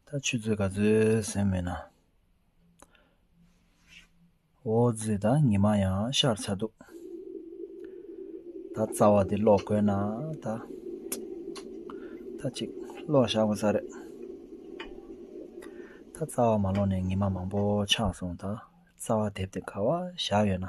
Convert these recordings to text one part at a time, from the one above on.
ད་ཆུ་ཚོད་ག་ཚོད་ཟིན་མིན་ན་འོ་ཛི་ད་ཉི་མ་ཡང་ཤར་ཚར་འདུག་ད་རྩ་བ་འདི་ཀློག་དགོས་ན་ད་ད་ཅིག་ཀློག་བཞག་དགོས་ས་རེད་ད་རྩ་བ་མ་ཀློག་ནས་ཉི་མ་མང་པོ་འཆགས་སོང་ད་རྩ་བ་དེབ་དེ་ག་བ་བཞག་ཡོད་ན་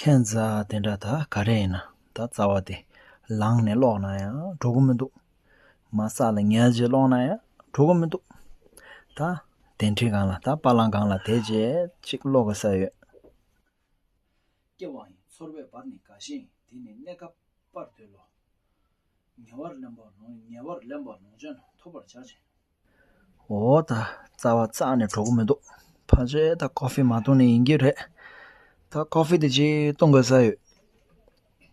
ཁྱེད་རྩ་དེ་འདྲ་ད་ག་རེ་ཡིན་ད་རྩ་བ་དེ་ལངས་ནས་ཀློག་ན་ཡང་འགྲོ་གི་མི་འདུག་མ་བསགས་ལ་ཉལ་རྗེས་ཀློག་ན་ཡང་འགྲོ་གི་མི་འདུག་ད་གདན་ཁྲི་སྒང་ལ་ད་པ་ལང་སྒང་ལ་དེད་རྗེས་ཅིག་ཀློག་གི་ས་ཡོད། སྐྱེ་བ་ཡི་ཚོར་བའི་བར་ནི་དགའ་ཞིང་དེ་ནི་གནས་སྐབས་པར་འདོད་ལོ། ཉེ་བར་ལེན་པ་ལོངས་ཉེ་བར་ལེན་པ་ལོངས་སྤྱོད་རྣམས་ཐོབ་པར་བྱ་ཞིང། འོ་ད་རྩ་བ་གཙང་ནས་གྲོགས་པོ་མི་འདུག་ཕ་ཆེ་ད་ཀོ་ཧྥེ་མ་བཏུང་ནས་ཡིན་གྱི་རེད་ད་ཀོ་ཧྥེ་དེ་གཅིག་བཏུང་དགོས་ས་ཡོད་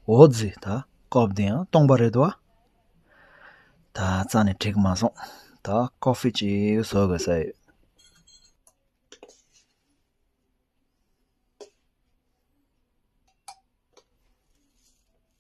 འོ་ཛི་ད་ཀོ་ཧྥེ་དེ་ཡང་བཏུང་པ་རེད་དོ་ཨ། ད་རྩ་ནས་འཁྲིག་མ་སོང་ད་ཀོ་ཧྥེ་གཅིག་བཟོ་དགོས་ས་ཡོད།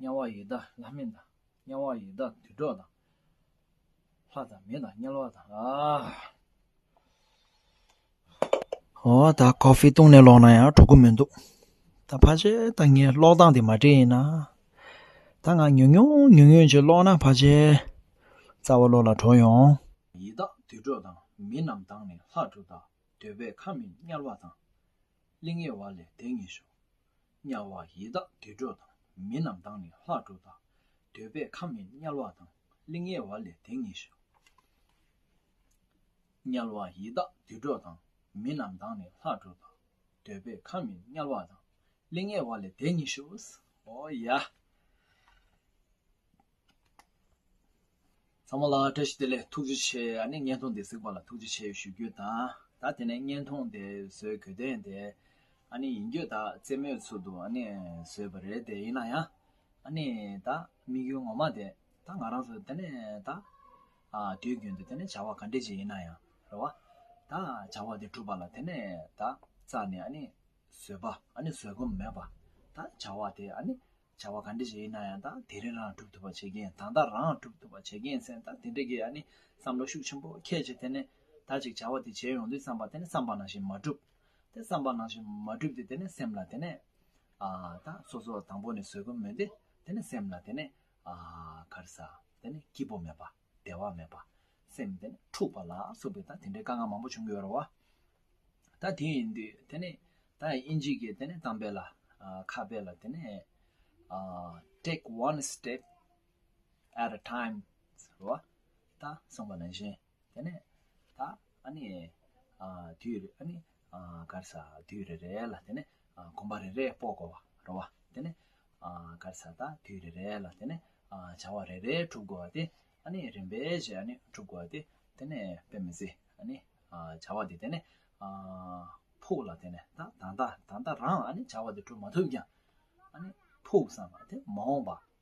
དམྱལ་བ་ཡི་དྭགས་ལྷ་མིན་དང། དམྱལ་བ་ཡི་དྭགས་དུད་འགྲོ་དང། ལྷ་དང་མི་དང་དམྱལ་བ་དང། ཨོ་ད Coffee བཏུང་ནས་ལོག་ན་ཡང་འགྲོ་གི་མི་འདུག་ད་ཕ་ཆེ་ད་ངའི་ལོག་སྟངས་དེ་མ་འདྲེས་ཡིན་ན་ད་ང་ཉུང་ཉུང་ཉུང་ཉུང་ཅིག་ལོག་ན་ཕ་ཆེ་རྩ་བ་བློ་ལ་དྲོ་ཡོང། ཡི་དྭགས་དུད་འགྲོ་དང་མི་རྣམས་དང་ནི་ལྷ་འགྲོ་དང་འདོད་པའི་ཁམས་མིན་དམྱལ་བ་དང། གླིང་ཡེར་བ་ལས་དེ་ངེས་ཤོག། དམྱལ་བ་ཡི་དྭགས་དུད་འགྲོ་དང་མི་རྣམས་དང་ནི་ལྷ་འགྲོ་དག། འདོད་པའི་ཁམས་མིན་དམྱལ་བ་དང་གླིང་ཡེར་བ་ལས་དེ་ངེས་ཤོག། དམྱལ་བ་ཡི་དྭགས་དུད་འགྲོ་དང་མི་རྣམས་དང་ནི་ལྷ་འགྲོ་དག། འདོད་པའི་ཁམས་མིན་དམྱལ་བ་དང་གླིང་ཡེར་བ་ལས་དེ་ངེས་ཤོག། ཧོ་ཡ། ཚང་མ་ལ་བཀྲ་ཤིས་བདེ་ལེགས་ཐུགས་རྗེ་ཆེ་ཨ་ནི་བརྙན་ཐུང་འདི་གཟིགས་པ་ལ་ཐུགས་རྗེ་ཆེ་ཞུ་རྒྱུ་དང་ད་དེ་ནས་བརྙན་ཐུང་དེ་བཟོས་གོས་དོན་དེ་ཨ་ནི་ཡིན་རྒྱུ་ད་རྩེད་མོའི་ཚུལ་དུ་ཨ་ནི་བཟོས་པ་རེད་དེ་ཡིན་ན་ཡང་ཨ་ནི་ད་དམིགས་ཡུལ་ངོ་མ་དེ་ད་ང་རང་ཚོ་དེ་ནས་ད་དུས་རྒྱུན་དུ་དེ་ནས་བྱ་བ་ག་འདྲི་ཅིག་ཡིན་ན་ཡང་རེད་བ་ད་བྱ་བ་དེ་གྲུབ་པ་ལ་དེ་ནས་ད་རྩ་ནས་ཨ་ནི་བཟོས་པ་ཨ་ནི་བཟོས་སྒོམ་མེད་པ་ད་བྱ་བ་དེ་ཨ་ནི། བྱ་བ་ག་འདྲས་ཞིག་ཡིན་ན་ཡང་དང་དེ་རིང་རང་སྒྲུབ་ཐུབ་པ་བྱེད་མཁན་དང་ད་རང་སྒྲུབ་ཐུབ་པ་བྱེད་མཁན་ཚན་དང་དེ་འདྲས་ཀྱི་ཡ་ནི་བསམ་བློ་ཤུགས་ཆེན་པོ་ཁྱད་ཆེ་དེ་ནས་ད་ཅིག་བྱ་བ་དེ་བྱེད་ཡོང་དུས་བསམ་པ་དེ་ནས་བསམ་པ་ནང་བཞིན་མ་གྲུབ་དེ་བསམ་པ་ནང་བཞིན་མ་གྲུབ་དེ་དེ་ནས་སེམས་ལ་དེ་ནས་ཨ་ད་སོ་སོ་དང་པོ་ནས་བཟོད་སྒོམ་མེད་དེ་དེ་ནས་སེམས་ལ་དེ་ནས་ཨ་ག་རེ་ས་དེ་ནས་སྐྱིད་པོ་མེད་པ། བདེ་བ་མེད་པ། སེམས་དེ་ནི་འཁྲུགས་པ་ལ་སོགས་པའི་ད་དེ་འདྲའི་དཀའ་ངལ་མང་པོ་བྱུང་གི་ཡོད་རོ། ད་དེ་ཡིན་དུས་དེ་ནི་ད་དབྱིན་ཇི་ཀའི་དེ་ནི་གཏམ་དཔེ་ལ། ཁ་དཔེ་ལ་དེ་ནི། Take one step at a time ཟེར་བ། ད་གསུངས་པ་ནང་བཞིན་དེ་ནི་ད་ཨ་ནི། དུས་རེ་ཨ་ནི་དཀར་ས་དུས་རེ་རེ་ལ་དེ་ནས་གོམ་པ་རེ་རེ་སྤོ་དགོ་བ་རོ་བ་དེ་ནས་དཀར་ས་དག་དུས་རེ་རེ་ལ་དེ་ནས་བྱ་བ་རེ་རེ་གྲུབ་དགོ་བ་དེ་ནས་རིམ་པས་བྱས་ནས་གྲུབ་དགོ་བ་དེ་དེ་ནས་དཔེ་མི་ཟེ་བྱ་བ་དེ་དེ་ནས་ཕུག་ལ་དེ་ནས་ད་ད་ད་ད་རང་བྱ་བ་དེ་གྲུབ་མ་ཐུབ་ཀྱང་ཕུག་བསམ་པ་དེ་མ་འོངས་པ